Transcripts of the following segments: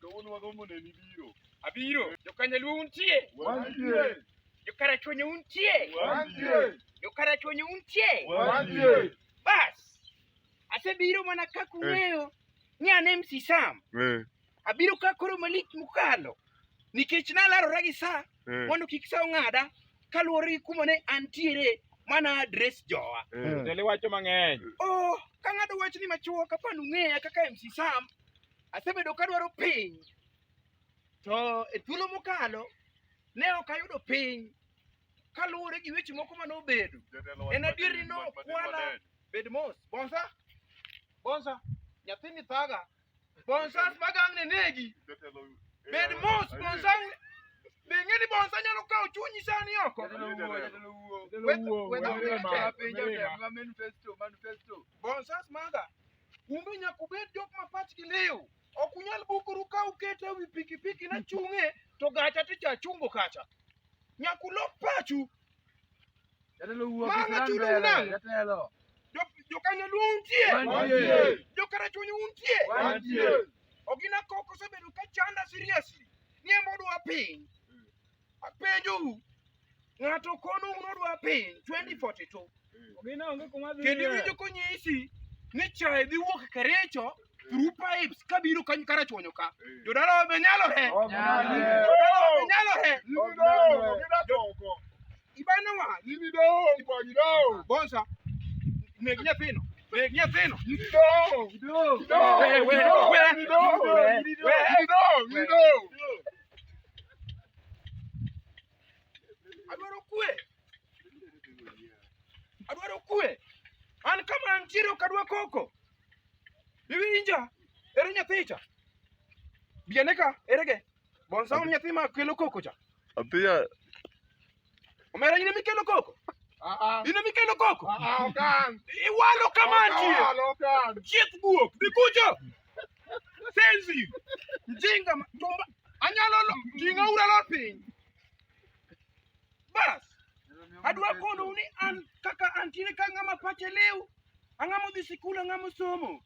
Kawuono wagombo neni biro. Abiro. Jokanyaluo untie? Wantie. Jokarachuonyo untie? Wantie. Jokarachuonyo untie? Wantie. Bas. Asebiro mana kaka eh. ung'eyo ni an MC Sam. Eh. Abiro ka koro malik mukalo. Nikech nalarora gi sa eh. mondo kik sa ong'ada kaluwore gi kuma ne antiere mana adres jowa. Tele wacho mang'eny. Oh, kang'ado wachni machuok apani ung'eya kaka MC Sam. Asebedo ka dwaro piny to e thuolo mokalo ne ok ayudo piny kaluwore gi weche moko mane obedo. En adier ni nokwala bed mos. Bonsa, bonsa, nyathini thaga. Bonsa magang' ne negi. Bed mos, bonsa be ing'e ni bonsa nyalo kawo chunyi sani oko. Bonsa maga Umbe nyaka ubed jok ma pachgi liw. Ok unyal bukoru ka ukete ewi pikipiki na chung'e to gacha to cha chungo kacha. Nyaka ulok pachu. Jatelo wuok Manga Islam chudo mbele, unang'. jatelo. Jo- Jokanyo luo untie. Wantie. Jokarachunyi untie. Wantie. Ogina koko osebedo ka chanda seriously. Niembo dwa piny. Apenjou, ng'ato kono unodwa piny 2042 Ogina onge kuma dhi. kendo iwinjo konyisi ni chae dhi wuok Kericho through pipes kabiro kanyo karachuonyo ka. Jodalawa be nyalore. Jodalawa be nyalore. Ibanowa, bonsa, neg nyathino, neg nyathino. Adwaro kwe. Adwaro kwe. An kama antiere ok adwa koko. Iwinja? Ere nyathi cha? Biane ka, ere ge? Bonsa un nyathi ma kelo koko cha? Apiya Omera ine mikelo koko. Ah, ah. Ine mikelo koko. Ah, okan. Iwalo kamanti. Iwalo okan. Chiet buok. Dikucho. Senzi. Mjinga. Tumba. Anyalo lo. Jinga ura lo piny. Bas. Adwa kono ni an kaka antine ka ng'ama pache lew. Ang'amo dhi sikul, ang'amo somo.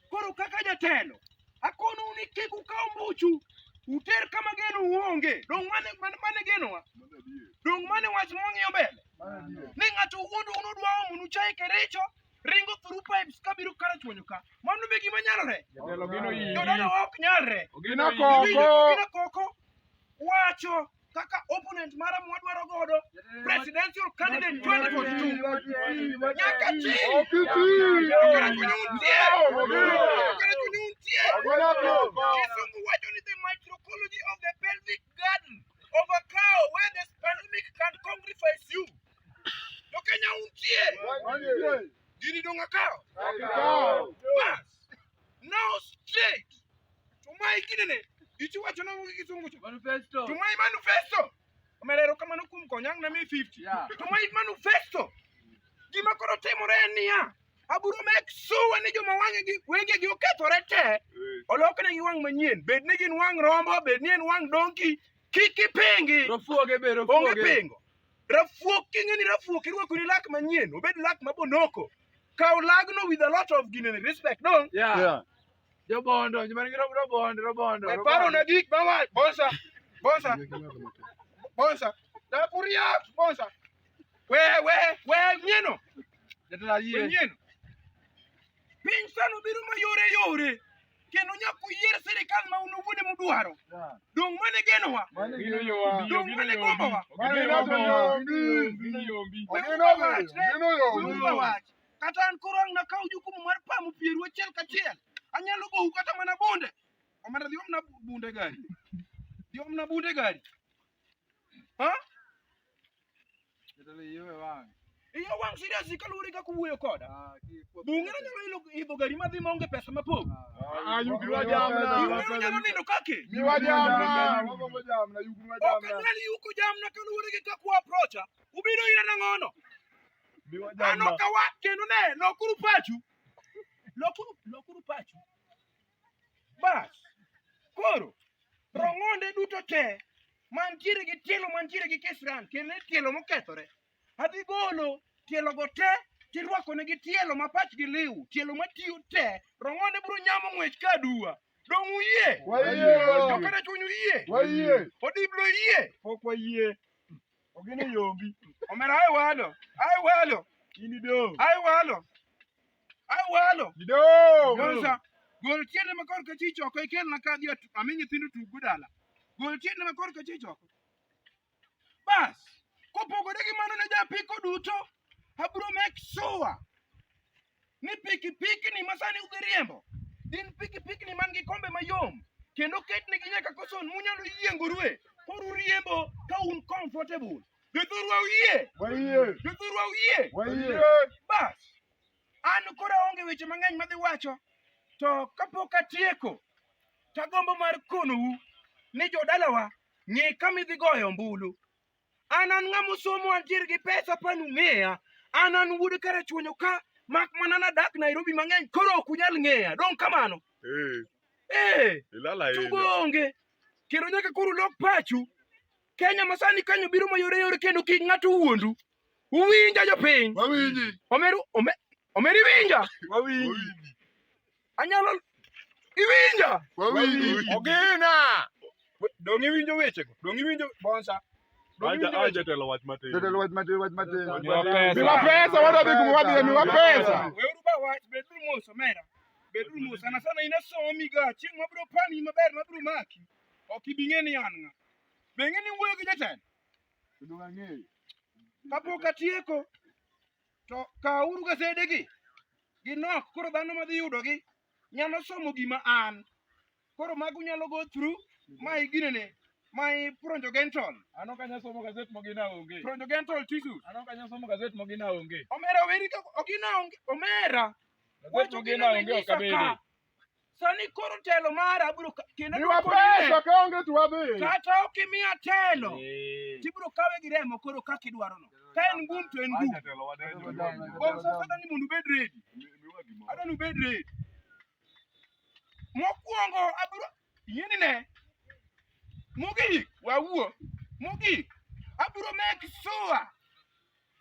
Koro kaka jatelo, akonou ni kik ukaw mbuchu uter kama geno uonge. Dong' mane mane mane genowa? Dong' mane wach mwang'iyo mbele? Ni ng'ato wuondu unudwa omonu chaye Kericho ringo through pipes kabiro kara chwonyo ka. Mano be gima nyalore. Jatelo gino iyi. Jodala ok nyalre. Ogino Ibiro koko. gina koko wacho kaka opponent mara mwadwaro godo presidential candidate 2042 nyaka chini kisungu wacho ni the microecology of the pelvic garden of a cow where this pandemic can congrifies you to kenya untie gini donga cow bas now straight tumai kinene ichiwacho nango gi kisungu cha manifesto tumai manifesto omerero kamano kuom konyang na mi 50 yeah. tumai manifesto gima koro timore en niya aburo mek suwa ni joma wangegi wengegi okethore te oloknegi wang' manyien bed ni gin wang' rombo bed ni en wang' donki kik ipingi onge pingo Rafuok king'e ni rafuok irwako ni lak manyien, obed lak ma bonoko. Kaw lagno with a lot of gine respect dong. Yeah. Yeah. Jobondo, jomani gi robo- robondo, robondo, E paro na robondo. gik ma wa bonsa bonsa bonsa da kuria bonsa. We we we nyieno, Jatend ayie. we nyieno. Piny sano biro mayore yore kendo nyaka uyier sirikal ma un uwuon ema udwaro. Dong' mane genowa? Dong' mane gombowa? Kata an koro ang' nakaw jukumu mar pamo pieru achiel kachiel. Anyalo gowu kata mana bunde. Omera dhi omna bunde gari. Dhi omna bunde gari. Ha? Iyo wang' serious kaluwore kaka uwuoyo koda. Bunge na nyalo ilo idho gari madhi maonge pesa mapok. Ah, yugi wa jamna. Bunge na nyalo nindo kake. Mi wa jamna. Ok anyal yuko jamna kaluwore gi kaka wa approacha. Ubiro ira nang'ono. Ano kawa kendo ne lokuru pachu. Lokuru lokuru pachu. Bas, koro rong'onde duto te mantiere gi tielo mantiere gi kisran kendo e tielo mokethore adhi golo tielogo te tirwakonegi tielo ma pachgi liw tielo matiyo te rong'onde biro nyamo ng'wech ka aduwa dong' uyie jokana chuny uyie odiblo yie pok wayie Ogene yombi. Omera ai walo. Ai walo. Ini do. Ai walo. Ai walo. Ido. Gonza. Gol tiende ma korka chich oko ikel na kadhi atu- ami nyithindo tugo dala. Gol tiende ma korka chich oko. Bas. Kopogore gi mano ne japiko duto. Abro make sure ni pikipikni ma sani udhi riembo gin pikipikni man gi kombe mayom kendo ketnegi nyaka koson munyalo yiengorue koro uriembo ka un comfortable jothurwa uyie jothurwa uyie bas an koro aonge weche mang'eny madhi wacho to kapok atieko tagombo mar konou ni jodalawa ng'e kama idhi goyo ombulu An an ng'ama osomo antiere gi pesa pan ung'eya. An an wuod Karachuonyo ka mak mana nadak Nairobi mang'eny koro ok unyal ng'eya. Dong' kamano. Eh, Eh, ilal tugo ahinya. onge. Kendo nyaka koro ulok pachu. Kenya masani kanyo biro mayore yore kendo kik ng'ato wuondu. Uwinja jopiny. Wawinji. Omeru ome, omeri winja. Wawinji. Anyalo iwinja. Wawinji. Ogina. Dong iwinjo wechego. Dong iwinjo bonsa. Jatelo wach matin. Jatelo wach matin, wach matin. Miwa pesa, wadadhi kuma wadhiye, miwa pesa. Weuru ba wach, beduru mos, omera. Beduru mos, sana sana in asomi ga, chieng' mabiro pani maber mabiro maki. Ok ibi ng'e ni an ng'a. Be ing'e ni iwuoyo gi jatelo? Kapok atieko, To kawuru gasedegi, ginok. Koro dhano madhi yudogi nyalo somo gima an. Koro mago nyalo go through my ginene, my pronjogental. Ano ka nyasomo gazet mogina onge. Pronjogental tissues. Ano ka nyasomo gazet mogina onge. Omera weri ka ogina onge. Omera. Gazet mogina onge ok abede. Sani koro telo mara abro ka- kendo Miwa adwoko pesa nine. ka onge to wadhi. Kata ok imiya telo, Eh. tibro kawe gi remo koro kaka idwarono. Ka en ngum to en ngum. Acha telo wadai jo. Bom sasa adwani mondo ubed ready. Miwa gimoro. Adwani ubed ready. Mokwongo abro Yieni ne. Mogik wawuo. Mogik abiro make sure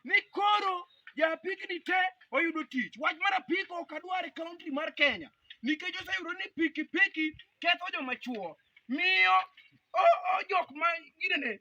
ni koro japikni te oyudo tich. Wach mar apiko ok adwar e kaunti mar Kenya nikech oseyudo ni pikipiki ketho joma chuo miyo o, o jok ma ginene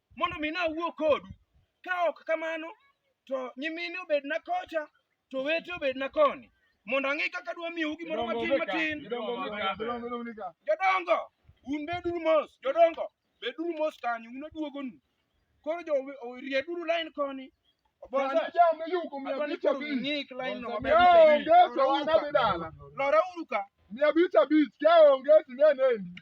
mondo mi nawuo kodu. Ka ok kamano, to nyimine obedna kocha, to wete obedna koni, mondo ang'e kaka dwa miyou gimoro matin matin. Jodongo, un beduru mos, jodongo, beduru mos kanyo, un aduogonu. Koro jo rieduru lain koni. Lora uru ka. Mia abich abich, ka onge sinenendi.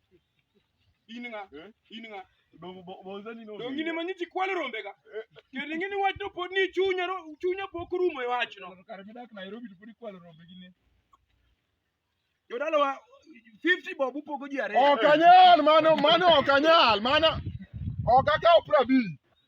in ng'a Eh? in ng'a Dongo bo- boza ni no. donge in ema nyithi kwalo rombega kendo ing'e ni wachno pod ni chunya ro- chunya pok orumo e wachno Kare midak Nairobi to podi kwalo rombe gi ne. jodalawa 50 bob upogo ji ariyo Ok anyal mano mano ok anyal mano ok akaw prabich.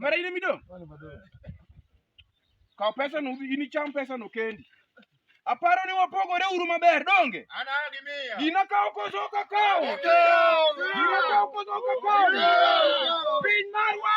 Mara ine midong'? Kaw pesa no udhi inicham pesa no kendi. Aparo ni wapogore uru maber donge? Ana gi miya. Gina kaw koso ka kaw. Gina kaw koso ka kaw. Piny marwa.